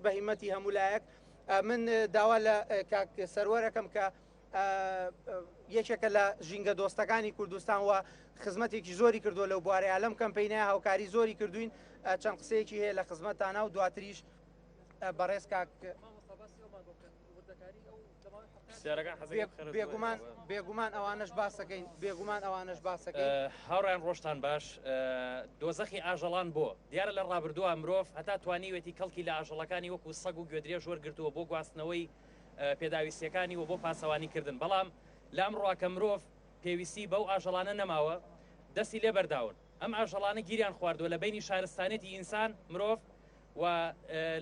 بە هیمەتی هەموو لایەک من داوا لە کاک سەروەرەکەم کە یەکێکە لە ژینگە دۆستەکانی کوردستان و خزمەتێکی زۆری کردووە لەو بوارەیە لەم کەمپینە هاوکاری زۆری کردوین چەند قسەیەکی هەیە لە خزمەتانە و دواتریش بەڕێز کاک بێگومان بێگومان ئەوانش باسەکەین بێگومان ئەوانش باسەکە هاڕان ڕۆشتان باش دۆزەخی ئاژەڵان بۆ دیارە لە ڕابردووە مرۆڤ هەتا توانیوێتی کەڵکی لە ئاژەڵەکانی وەکو سەگ و گوێدرێ ژۆر گرتووە بۆ گواستنەوەی پێداویستیەکانی و بۆ پاسەوانی کردن بەڵام لام ڕواکە مرۆڤ پێویستی بەو ئاژەڵانە نەماوە دەستی لێ بەرداون ئەم ئاژەڵانە گیریان خواردووە لە بەینی شارستانیەتی ئینسان، مرۆڤ، و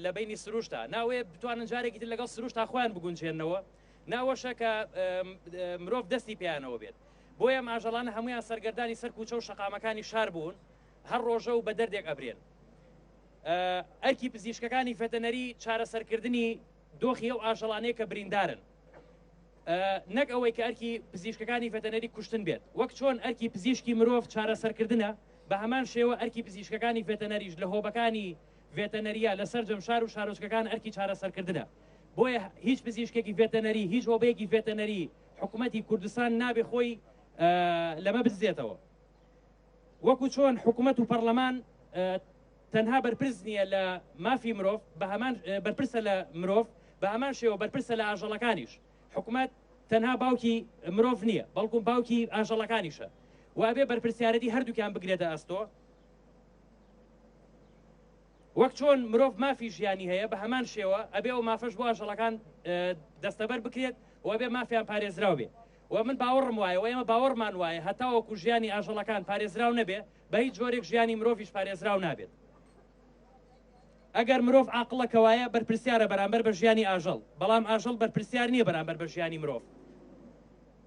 لە بەینی سروشتە، ناوەیە بتوانن جارێکی تر لەگەڵ سروشتا خۆیان بگونجێننەوە، ناوەشە کە مرۆڤ دەستی پێیانەوە بێت. بۆیە ئەم ئاژەڵانە هەموویان سەرگەردانی سەر کوچە و شەقامەکانی شار بوون، هەر ڕۆژە و بە دەردێک ئەبرێن. ئەرکی پزیشکەکانی ڤێتەنەری چارەسەرکردنی دۆخی ئەو ئاژەڵانەیە کە بریندارن. نەک ئەوەی کە ئەرکی پزیشکەکانی ڤێتەنەری کوشتن بێت، وەک چۆن ئەرکی پزیشکی مرۆڤ چارەسەرکردنە، بە هەمان شێوە ئەرکی پزیشکەکانی ڤێتەنەریش لە هۆبەکانی ڤێتەنەرییە لە سەرجەم شار و شارۆچکەکان ئەرکی چارەسەرکردنە. بۆیە هیچ پزیشکێکی ڤێتەنەری، هیچ هۆبەیەکی ڤێتەنەری حکومەتی کوردستان نابێ خۆی لەمە بدزێتەوە. وەکو چۆن حکومەت و پەڕلەمان تەنها بەرپرس نییە لە مافی مرۆڤ بەهەمان بەرپرسە لە مرۆڤ بە هەمان شێوە بەرپرسە لە ئاژەڵەکانیش حکومەت تەنها باوکی مرۆڤ نییە بەڵکو باوکی ئاژەڵەکانیشە وابێ بەرپرسیارەتی هەردووکیان بگرێتە ئەستۆ وەک چۆن مرۆڤ مافی ژیانی هەیە بە هەمان شێوە ئەبێ ئەو مافەش بۆ ئاژەڵەکان دەستەبەر بکرێت و ئەبێ مافیان پارێزراو بێ و من باوەڕم وایە و ئێمە باوەڕمان وایە هەتاوەکو ژیانی ئاژەڵەکان پارێزراو نەبێ بە هیچ جۆرێک ژیانی مرۆڤش پارێزراو نابێت ئەگەر مرۆڤ عقلەکەوایە بەرپرسیارە بەرامبەر بە ژیانی ئاژەڵ بەڵام ئاژەڵ بەرپرسیار نییە بەرامبەر بە ژیانی مرۆڤ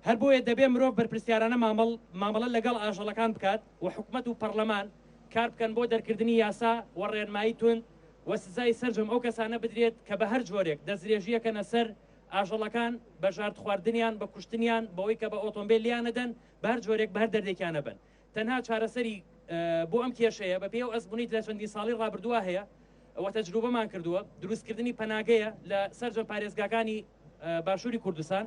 هەر بۆیە دەبێت مرۆڤ بەرپرسیارانە مامەڵ مامەڵە لەگەڵ ئاژەڵەکان بکات و حکومەت و پەڕلەمان کار بکەن بۆ دەرکردنی یاسا و ڕێنمایی توند و سزای سەرجەم ئەو کەسانە بدرێت کە بەهەر جۆرێک دەستدرێژییەکەنە سەر ئاژەڵەکان بە ژاردخواردنیان بە کوشتنیان بەوەی کە بە ئۆتۆمبێل لیانەدەن بەهەر جۆرێک بەهەر دەردێکیانە بن تەنها چارەسەری بۆ ئەم کێشەیە بە پێی و ئەزمونیت لە چەندی ساڵی ڕابردووە هەیە ئەوە تەجروبەمان کردووە دروستکردنی پەناگەیە لە سەرجەم پارێزگاکانی باشووری کوردستان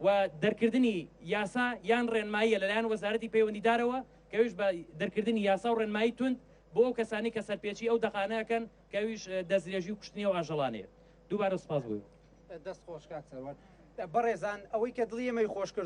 و دەرکردنی یاسا یان ڕێنماییە لەلایەن وەزارەتی پەیوەندیدارەوە کە ئەویش بە دەرکردنی یاسا و ڕێنمایی توند بۆ ئەو کەسانەی کە سەرپێچی ئەو دەقانە ئەکەن کە ئەویش دەستدرێژی و کوشتنی ئەو ئاژەڵانەیە. دووبارە سوپاس بۆ. دەست خۆش کاک سەروەر. بەڕێزان ئەوەی کە دڵی ئێمەی خۆش کردووە،